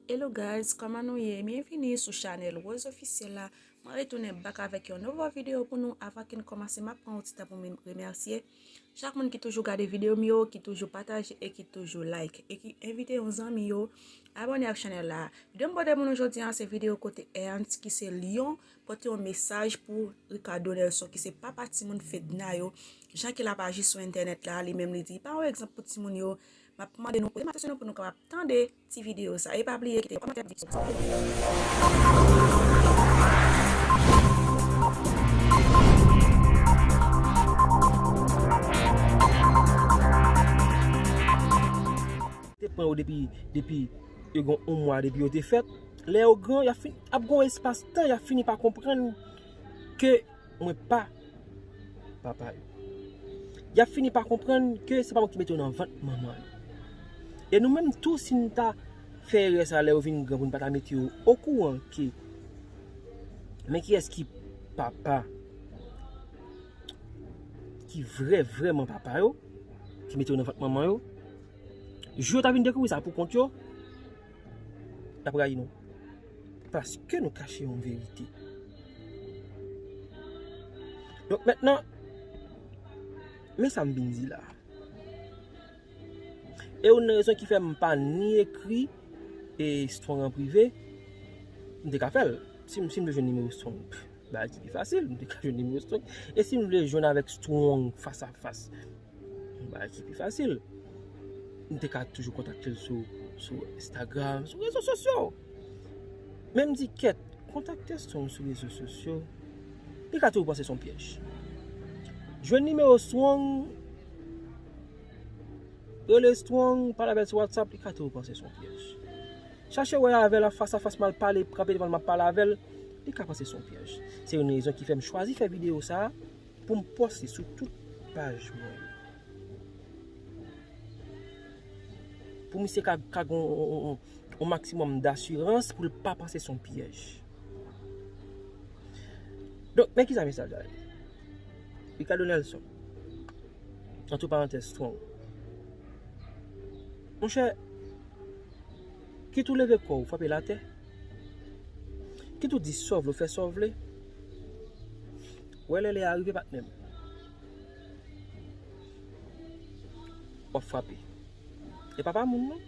Hello guys, kòman nou ye? Byenvini sou chanel Rose Officiel la. Mwen retounen bak avèk yon nouvo video pou nou. Avan ke n kòmanse, m ap pran yon ti tan pou m remèsye chak moun ki toujou gade video m yo, ki toujou pataje e ki toujou like e ki envite yon zanmi yo abone ak chanel la. Video m pote pou nou jodi an se video kote Ernst ki se lyon pote yon mesaj pou Ricardo Nelson ki se papa timoun Fedna yo, jan ke l ap aji sou entènèt la, li menm li di pa yon egzanp pou timoun yo. Map mande nou prim atansyon nou pou nou kapab tande ti video sa e pa bliye kite yon kòmantè pou video sa. Mwen pa papa yo. Y ap fini pa konprann ke se pa mwen ki mete yo nan vant manman yo. E nou menm tou si nou ta fè erè sa lè yo vin gran pou nou pa ta mete yo okouran ke men kiyès ki papa ki vrè vrèman papa yo, ki mete yo nan vant manman yo, jou yo ta vin dekouvri sa pou kont yo, y ap rayi nou. Paske nou kache yon verite. Donk mentnan, men sa m vin di la. E youn nan rezon ki fè m pa ni ekri e Strong an prive, m te ka fè l. Si m te jwenn nimewo Strong, bagay ti pi fasil, m te ka jwenn nimewo Strong. E si m vle jwenn avèk Strong fas a fas? Yon bagay ki pi fasil. M te ka toujou kontakte l sou Instagram, sou rezo sosyo. Men m di kèt, kontakte Strong sou rezo sosyo, li ka toujou panse son pyèj. Jwenn nimewo Strong, rele Strong, pale avè l sou WhatsApp, li ka toujou panse son pyèj. Chache wè avè l an fas a fas, m al pale, kanpe devan l, m ap pale avè l, li ka panse son pyèj. Se youn rezon ki fè m chwazi fè videyo sa. Poum poste sou tout paj mwen yo. Pou misye ka ka gon yon maksimòm dasirans pou l pa panse son pyèj. Donk men kisa mesaj la ye. Ricardo Nelson. Antre parantèz strong. Monchè, kit ou leve kò ou frape l atè, kit ou di sa w vle ou fè sa w vle, Wè lè lè a rive patnèm. Wap frape. E pa pa moun non.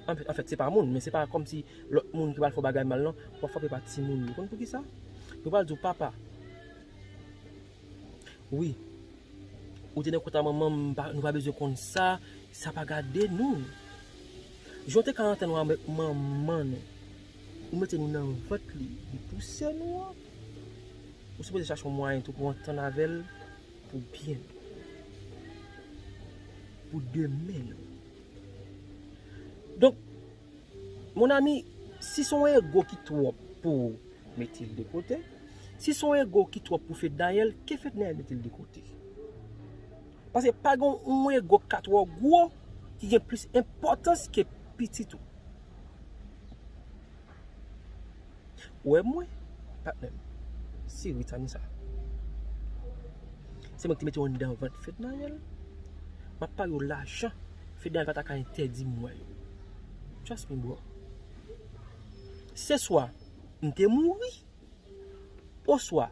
An fèt se pa moun men se pa kòm si lòt moun ki pral fè w bagay mal non. Wap frape pa ti moun yo. Konn pou ki sa? Yo pral di w papa. Wi. Ou te nan kont a manman m nou pa bezwen konn sa. Sa pa gade nou. Jan w te ka antann w avèk manman nou. Ou mete nou nan vant li, li pouse nou an. Ou sipoze chache yon mwayen tou pou antann avè l pou byen nou. Pou demen nou. Donk, mon ami, si son ego ki twòp pou ou, mete l de kote. Si son ego ki twòp pou Fednaelle, ke Fednaelle mete l de kote. Paske pa gen yon ego ki ka twò gwo, ki gen plis enpòtans ke pitit ou. Ou wè mwen? Patnè m. Si wi sa nou sa? Se mwen ki te mete w anndan vant Fednaelle. M ap pale w lajan Fednaelle pa ta ka entèdi m wè yo. Trust me bro. Se swa m te mouri oswa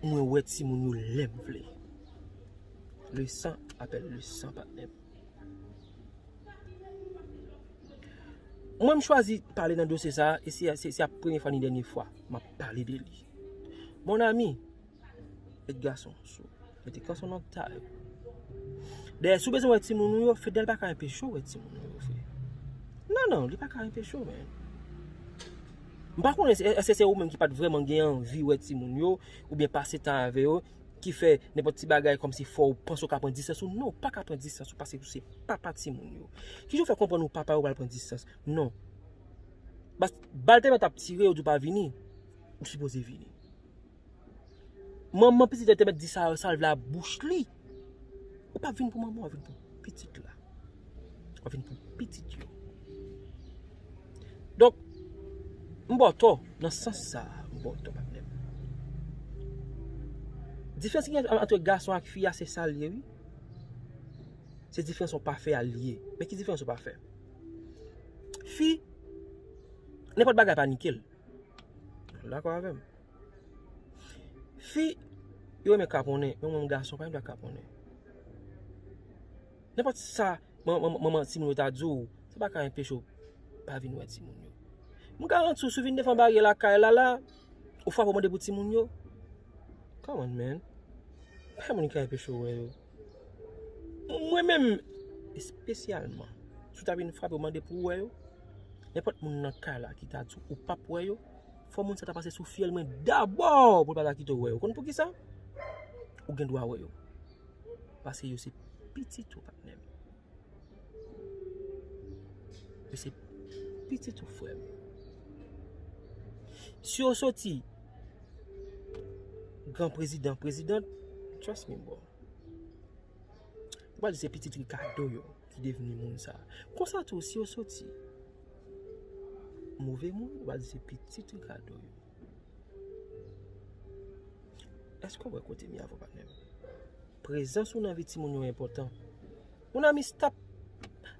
mwen wè timoun yo lè m vle. Le san apèl le san patnè m. Mwen m chwazi pale nan dosye sa e se a premye fwa ni dènye fwa m ap pale de li. Mon ami, Edgar son sou. Mete kan son nan ta yo. Dèyè sou bezwen wè ti moun ou yo, Fedel pa ka enpeche ou wè ti moun ou yo fè. Nan nan, li pa ka enpeche ou men. M pa konnen, eske se ou menm ki pa t vreman gen anvi wè ti moun yo, ou byen pase tan avè yo, ki fè nenpòt ti bagay kòm si fòw panse ou ka pran distans ou non ou paka pran distans ou paske ou se papa timoun yo kijan ou fè konprann ou papa yo pral pran distans non bas bal tèlman tap tire yo di ou pa vini ou sipoze vini manman pitit la te mèt di sa yo sa l vle a bouch li ou pa vin pou manman w vin pou pitit la. Wap vin pou pitit yo. Donk, m ba w tò nan sans sa a. M ba w tò patnè m. Diferans ki gen antre gason ak fi a se sa l ye wi. Se diferans yon pa fè a li ye. Men ki diferans yon pa fè. Fi, nenpòt bagay pa nike l. Ou dakò avè m? Fi, yo renmen kaponnen. Men mwen m gason, pa m vle kaponnen. Nenpòt sa manman timoun yo ta di w, sa pa ka enpeche w pa vin wè timoun yo. M garanti w si w vin devan baryè lakay Lala, ou frape ou mande pou timoun yo. Come on man, pa gen moun ki ka enpeche w wè yo. Mwen menm, espesyalman, si w ta vin frape ou mande pou w wè yo, nenpòt moun nan kay la ki ta di w ou pap wè yo, fò moun sa ta pase sou fyèl mwen dabò pou l pa ta kite w wè yo. Ou konn poukisa? Ou gen dwa wè yo. Paske yo se pitit ou patnèm. Yo se pitit ou frèm. Si yo soti gran prezidan prezidan, trust me bro. Waj se pitit Ricardo yo ki devni moun sa. Konsa tou si yo soti move moun, waj se pitit Ricardo yo. Eske w wè kote m ye avè w patnè m? Prezans ou nan vi timoun yo enpòtan. Mon ami stop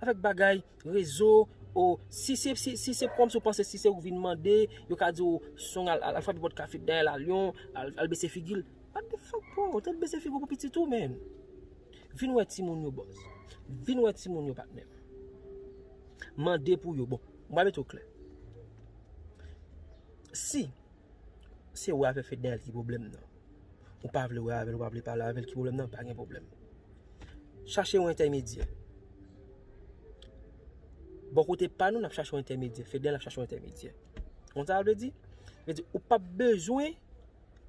avèk bagay rezo ou si se kòmsi ou panse si se ou ki vin mande yo ka di ou song al frape pòt kafe dèyè la lyon al bese figi l. What the fuck bro ou te dwe bese figi w pou pitit ou menn. Vin wè timoun yo boss. Vin wè timoun yo patnè m. Mande pou yo bon. Mwen mete w klè. Si se ou avè Fednaelle ki pwoblèm nan, ou pa vle wè avè l, ou pa vle pale avè l ki pwoblèm nan, pa gen pwoblèm. Chache yon entèmedyè. Bò kote pa nou, n ap chache yon entèmedyè. Fednaelle ap chache yon entèmedyè. Kon sa l vle di? Vle di ou pap bezwen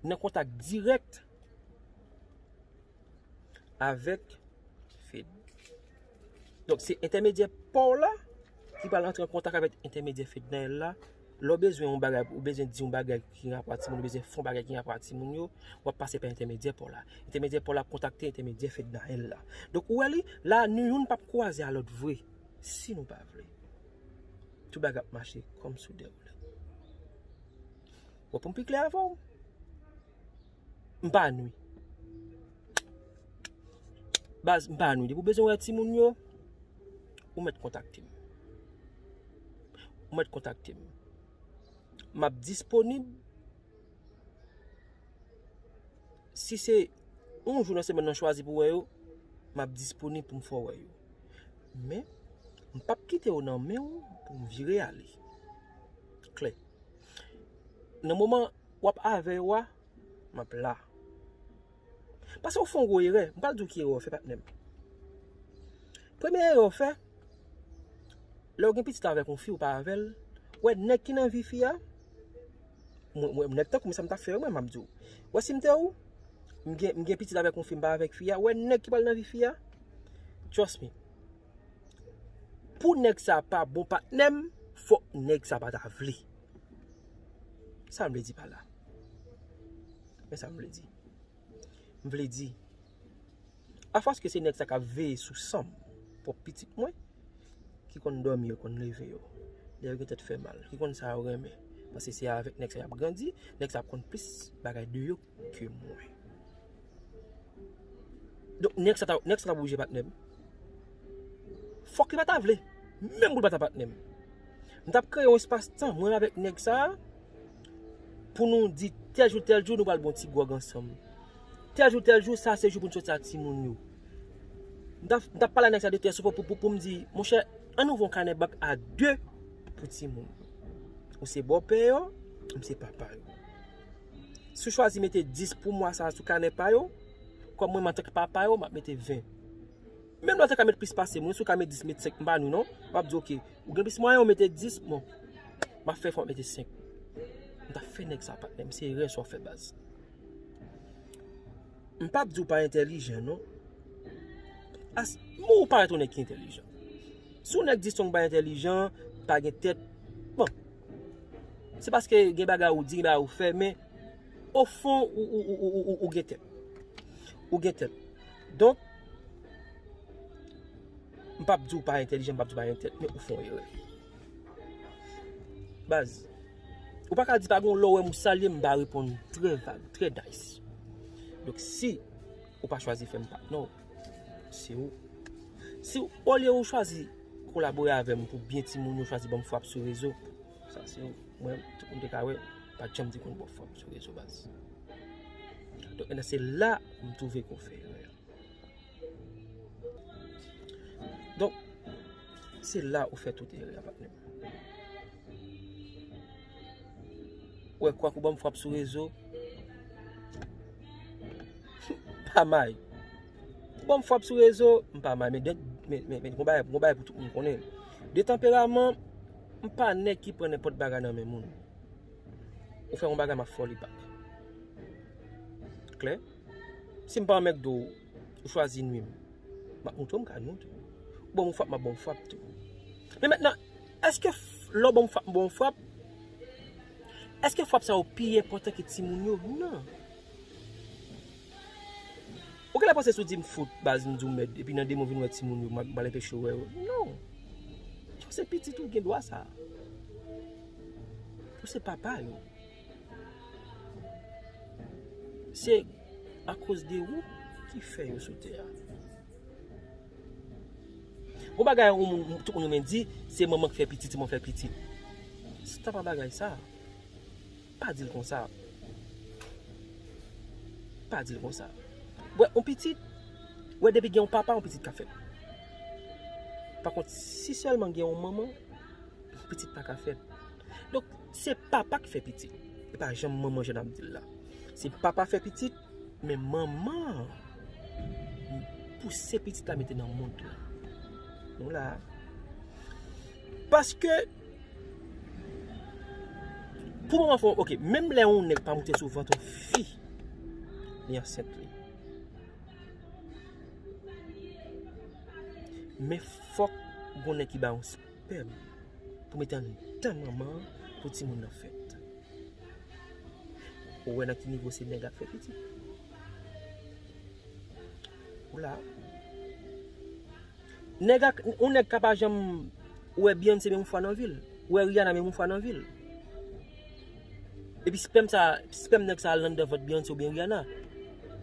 nan kontak dirèk avèk Fed. Donk se entèmedyè paw la ki pral antre an kontak avèk entèmedyè Fednaelle la, lè w bezwen yon bagay, ou bezwen di yon bagay ki gen rapò ak timoun yo, ou bezwen fè yon bagay ki gen rapò ak timoun yo, wap pase pa entèmedyè paw la. Entèmedyè paw la ap kontakte entèmedyè Fednaelle la. Donk ou wè li, la nou youn pap kwaze a lòt vre, si nou pa vle. Tout bagay ap mache kòm sou dèwoulè. Bon poum pi klè avèw. M pa nwi. Baz, m pa nwi. Depi w bezwen wè timoun yo, ou mèt kontakte m. Ou mèt kontakte m. M ap disponib. Si se yon jou nan semenn nan chwazi pou wè yo, m ap disponib pou m fè w wè yo. Men, m pa p kite yo nan men w pou m vire ale. Klè. Nan moman Wap avè yo a Map la. Pase ou fè yon gwo erè, m pral di w ki erè ou fè patnè m. Premye erè ou fè, lè ou gen pitit avèk yon fi ou pa avè l, ou wè nèg ki nan vi fi a, mwen nèg tankou mwen sa m tap fè yo mwen map di w. Ou wè si m te ou, m gen m gen pitit avèk yon fi m pa avèk fi a, ou wè nèg ki pral nan vi fi a, trust me, pou nèg sa pa bon patnè m, fòk nèg sa pa ta vle. Sa m vle di pa la? Men sa m vle di. M vle di, a fòs ke se nèg sa k ap veye sou san m, pwòp pitit mwen, ki konn dòmi yo, konn leve yo, lè yo gen tèt fè mal, ki konn sa yo renmen, paske se avèk nèg sa y ap grandi, nèg sa ap konn plis bagay de yo. ke mwen. Donk nèg sa ta nèg sa ta oblije patnèm. Fòk li pa ta vle, menm pou l pa ta patnèm. M tap kreye yon espas tan mwen avèk nèg sa pou nou di tèl jou tèl jou nou pral bon ti gwòg ansanm. Tèl jou tèl jou sa se jou pou nou soti ak timoun yo. M ta m tap pale a nèg sa de tèt sou pou pou pou m di monchè an nou von kanè bank a 2 pou timoun. Ou se bòpè yo, m se papa yo. Si yo chwazi mete 10 pou mwa sa a sou kanè pa yo, kòm mwen menm antanke papa yo, m ap mete 20. Menm lè yo te ka mete plis pase mwen, si yo ka mete 10, m mete 5, m ba nou non. M ap di ok, ou gen plis mwayen ou mete 10, bon, m ap fè efò m mete 5. M ta fè nèg sa a patnè m, se erè sa w fè baz. M pa ap di ou pa entèlijan non. As, bon ou parèt yon nèg ki entèlijan. Si yon nèg di Strong pa entèlijan, pa gen tèt, bon. Se paske gen bagay ou di, gen bagay ou fè, men o fon ou gen tèt. Ou gen tèt. Donk, m pap di ou pa entèlijan, m pap di ou pa gen tèt, men ou fè yon erè. Baz, ou pa ka di pa gon lè ou wè m ou salye m, m pa reponn trè vag, trè nice. Donk si ou pa chwazi fè m pa, non. Siw Siw olye ou chwazi kolabore avèm pou byen timoun yo chwazi banm frap sou rezo sa se mwen tout moun te ka wè pat janm di konn banm frap sou rezo baz donk mèt la se la m twouve ke w fè erè a donk se la ou fè tout erè a patnèm. Wè kwak ou banm frap sou rezo Pa may Ou banm frap sou rezo M pa may Men gon bagay pou tout moun konnen De tanperaman M pa nèg ki pran nenpòt bagay nan men moun Ou fè yon bagay m ap fè w li bak Klè Si m pa anmègde w Ou chwazi nwi m. M ap montre w m ka nwi w tou. Ou ban m yon frap, m ap ban w yon frap tou. Men mentnan, eske lè w ban m yon frap, m ban w yon frap, eske frap sa yo pi enpòtan ke timoun yo? Non. Ou genlè panse si w di m fout, baz, m di w mèd, epi nan demen w vin wè timoun yo, m ap mal enpeche w wè yo? Non. Paske se pitit ou, ou gen dwa sa a. Ou se papa yo. Se akoz de ou ki fè yo sou tè a. Gwo bagay ou moun tout moun renmen di, se manman ki fè pitit, se manman ki fè pitit. Se ta pa bagay sa. Pa di l kon sa. Pa di l kon sa. Ou wè yon pitit, ou wè depi gen yon papa yon pitit ka fèt. Pakont, si sèlman gen yon manman, yon pitit pa ka fèt. Donk, Se papa k fè pitit. E pa janm manman jan n ap di l la. Se papa fè pitit, men manman an pouse pitit la mete nan mond lan. Nou la a. Paske, pou manman fè yon, ok, menm lè yon nèg pa moute sou vant yon fi, li ansent li. Men fòk yon nèg ki ba yon. pèm pou mete andan manman an pou timoun nan fèt. Ou wè nan ki nivo se nèg ap fè pitit. Ou la. Nèg ak, ou nèg ka pa janm wè Beyoncé menm yon fwa nan vil. Wè Rihanna menm yon fwa nan vil. Epi spèm sa, spèm nèg sa al anndan vant Beyoncé oubyen Rihanna.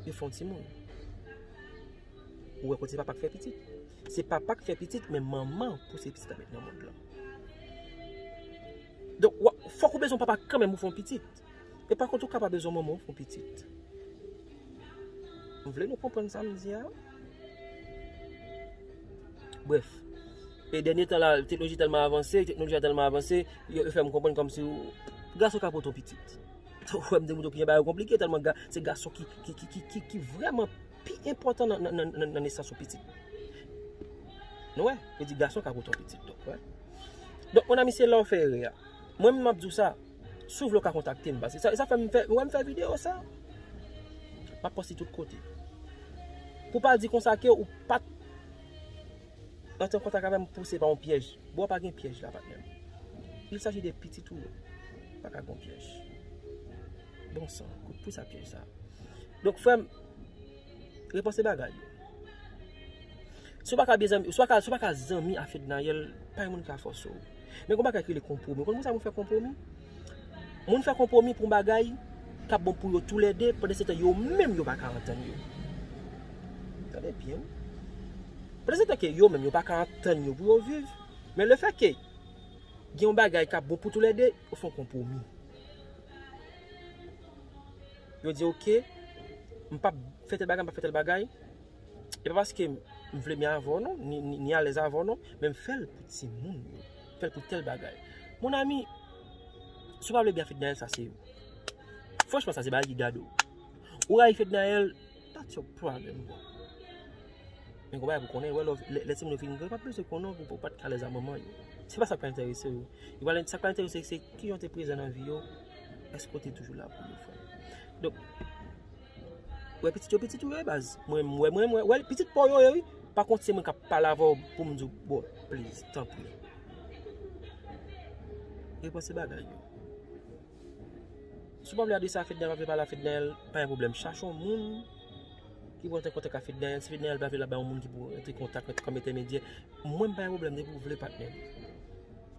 Yo fè yon timoun. Ou wè kote papa k fè pitit. Se papa k fè pitit men manman pou se pitit la met nan mond lan. Donk wap fòk ou bezwen papa kan menm pou fè yon pitit. E pa kont ou ka pa bezwen manman pou fè yon pitit. M vle nou konprann sa m di a. Bref. E dènye tan la teknoloji tèlman avanse, teknoloji a tèlman avanse, yo fè m konprann kòm si gason ka pot yon pitit. Ou wè m di moun yo ki gen bagay yo konplike tèlman se gason ki vrèman pi enpòtan nan nesans yon pitit. Nou wè? Yo di gason ka pote yon pitit tou. Donk, monami se la ou fè erè a. Mwen menm map di ou sa, si ou vle ou ka kontakte m. Pase sa fè m fè, ou wè m fè videyo sa? Map poste tout kote. Pou pa di konsa ke ou pat antre an kontak avè m pou se pa yon pyèj. Bro pa gen pyèj la patnè m. Il saji de pitit ou yo. Pa ka gen pyèj. Bon san, kout pou sa pyèj sa. Donk frè m. Repanse bagay yo. Si w pa ka byen zanmi, si w pa ka zanmi a Fednaelle, pa gen moun ki ka fòse w. Men gon bagay ki rele konpwomi. Ou konn poukisa moun fè konpwomi? Moun fè konpwomi pou yon bagay k ap bon pou yo tou lè de, pandan se tan yo menm yo pa ka antann yo. Tande byen wi. Pandan se tan ke yo menm yo pa ka antann yo pou yo viv, men le fè ke gen yon bagay k ap bon pou tou lè de, yo fè yon konpwomi. yo di ok, m pap fè tèl bagay, m pap fè tèl bagay, e pa paske m vle byen avè w non, ni alèz avè w non, men m fè l pou timoun yo, m fè l pou tèl bagay. Mon ami, si w pa vle byen a Fednaelle, sa se, franchman sa se bagay ki gade w. Ou rayi Fednaelle, that's your problem bro. Men gen yon bagay pou w konnen, wè lè, lè timoun yo fin gran, yo pa bezwen konnen w pou w pa t ka alèz a manman yo. Se pa sa k pa enterese yo. Yo pral, sa k pral enterese yo se kijan w te prezan nan vi yo. Eske ou te toujou la pou mwen frèm? Donk, ou wè pitit yo pitit ou yo e baz? Mwen wè, mwen wè, wè pitit pa w yo ye wi. Pa kont se mwen k ap pale avè w pou m di w bon, pliz, tanpri. Repanse bagay yo. Si w pa vle adrese a Fednel, pa vle pale a Fednel, pa gen pwoblèm. Chache yon moun ki pou antre an kontak ak Fednel. Si Fednel pa vle, l ap bay yon moun ki pou antre an kontak kòm entèmedyè. Mwen m pa gen pwoblèm depi w vle patnè m.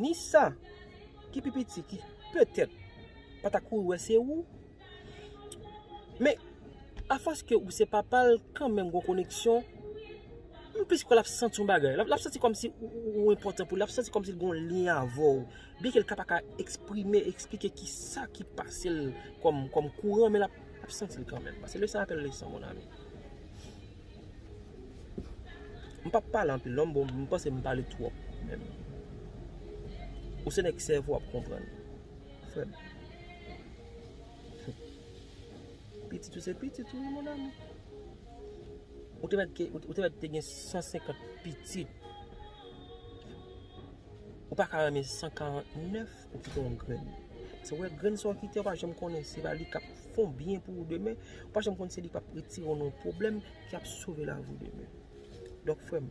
Ni sa ki pi piti ki petèt pa ta kouri wè se ou. Men, afòs ke ou se papa l, kanmenm gon koneksyon. M plis kwè l ap santi yon bagay. L ap santi kòmsi ou enpòtan pou li. L ap santi kòmsi l gon lyen avè w. Byen ke l ka pa ka eksprime, eksplike ki sa ki pase l kòm kouran, men l ap santi l kanmenm. Pase leson apèl leson, monami. M pap pale anpil non bon m panse m pale twòp menm. Ou se nèg sèvo ap konprann frè m. Pitit ou se pitit ou wi mon ami. Ou te mèt ou te mèt te gen 150 pitit. Ou pa ka renmen 149. Ou kite yon grenn. Se wè grenn sa w kite a ou pa janm konnen se pa li k ap fè yon byen pou ou demen. Ou pa janm konnen se li k ap retire w nan yon pwoblèm ki ap sove lavi w demen. Donk frè m,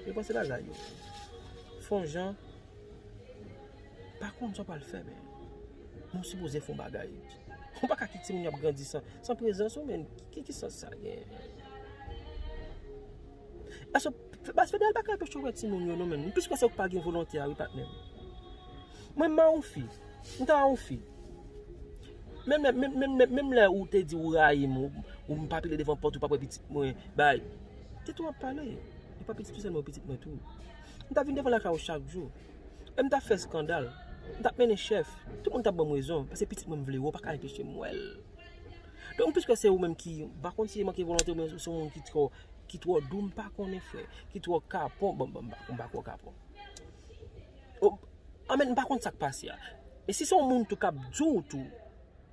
repanse bagay yo. Fè yon jan, pa konn sa w pral fè men, men w sipoze fè yon bagay. Ou pa ka kite timoun yo ap grandi san prezans ou men. Ki sans sa gen? Paske baz federal pa ka tou chokwe ti moun yo non menm. M plis kwè se ou k pa gen volonte a wi patnè m. Mwen m a yon fi. M ta yon fi. Menm lè menm menm menm menm lè ou te di ou rayi m ou m pa pile devan pòt ou pa p wè pitit mwen bay. Tèt ou ap pale. E pa pitit ou sèlman pitit mwen tou. M ta vin devan lakay ou chak jou. E m ta fè eskandal. M ta mennen chèf. Tout moun ta ban m rezon. Paske pitit mwen m vle wè ou pa ka enpeche m wè l. Donk m plis kwè se ou menm ki m pa konn si se manke volonte ou byen ou se yon moun ki twò. Ki twò dou m pa konnen frè. Ki twò kapon bon m pa kwè w kapon. An men m pa konn sa k pase a. E si se yon moun tou k ap di w tou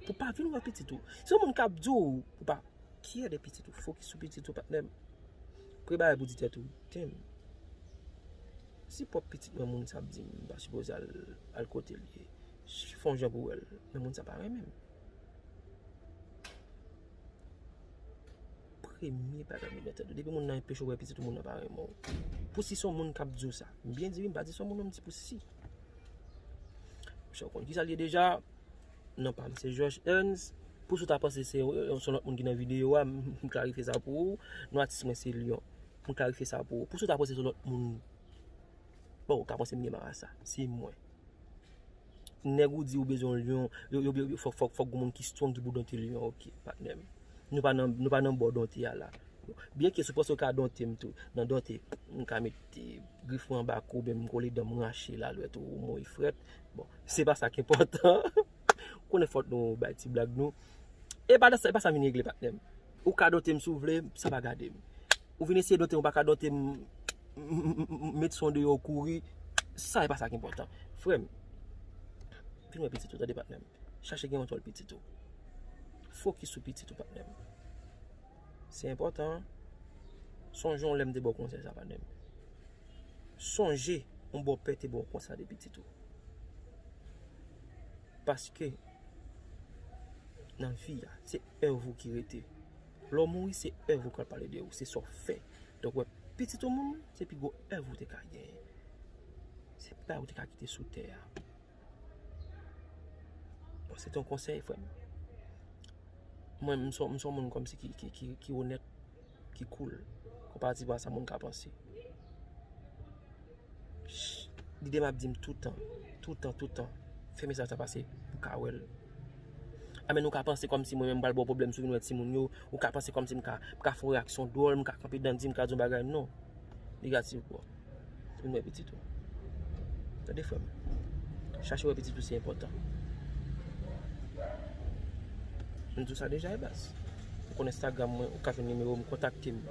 pou pa vin wè pitit ou. Se yon moun k ap di w pou pa kyè de pitit ou. Fokis sou pitit ou patnè m. Premye bagay pou w di tèt ou. Tem. Si pwòp pitit mwen moun sa ap di m. M pa sipoze al kote l ye. Fon jan pou w wè l. Men moun sa pa renmen m. premye pa janm libète tou. Depi moun nan enpeche w wè pitit ou moun nan pa renmen w. Pou si son moun kap di w sa. M byen di wi m pa di son moun non m di pou si. Misye w konn kisa l ye deja. Non pa m se George Ernst. Pou si w ta panse se yon son lòt moun ki nan videyo a. M klarife sa pou ou. Non atis mwen se Lion. M klarife sa pou ou. Pou si w ta panse se lòt moun. Bon ou ka panse m gen marasa. Se mwen. Nèg ou di ou bezwen yon lion, yo yo yo fòk fòk fòk gon moun ki strong ki pou donte lion an ok patnè'm. Nou pa nan nou pa nan bò donte a la. Byen ke si w panse w ka donte m tou nan donte m ka met grif mwen anba kou oubyen m kole dan m rache la lwèt ou mouye frèt. Bon, se pa sa ki enpòtan. Konnen fòt nou bay ti blag nou. E pa sa e pa sa m vin regle patnè'm. Ou ka dote m si w vle, sa pa gade m. Ou vin eseye dote m, ou pa ka dote m, m met son deyò ou kouri, sa e pa sa ki enpòtan. Frè m, vin wè pitit ou tande patnè m. Chache gen kontwòl pitit ou. Fokis sou pitit ou patnè m. Se enpòtan an. Sonje yon lè m te ba w konsèy sa patnè m. Sonje yon bòpè te ba w konsèy sa de pitit ou. Paske, nan vi a, se. Èv ou ki rete. Lè ou mouri se èv ou k ap pale de ou, se sa ou fè. Donk wè pitit ou moun se pi gwo èv ou te ka genyen. Se pi bay ou te ka kite sou tè a. Bon se te yon konsèy frè m. Mwen m son moun kòmsi ki onèt. ki cool konparativ a sa moun ka panse. Lide m ap di m toutan, toutan, toutan, fè mesaj sa pase pou ka wè l. A men nou ka panse kòmsi mwen menm m pral ba w pwoblèm sou vin wè timoun yo, ou ka panse kòmsi m ka fè yon reyaksyon dwòl, m ka kanpe dan di, m ka di yon bagay, non. Negatif bro. Tounen wè pitit ou. Tande frè m. Chache wè pitit ou se enpòtan. M di w sa deja e baz. Ou konn Instagram mwen, ou ka jwenn nimewo m, kontakte m.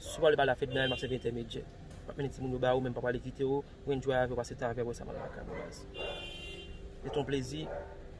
Si w pa vle pale ak Fedna, map sèvi entèmedyè. Map mennen timoun yo ba ou men m pap ale kite w, ou enjoy avè w, pase tan avè w, e sa map lakay mwen e baz. Se te yon plezi.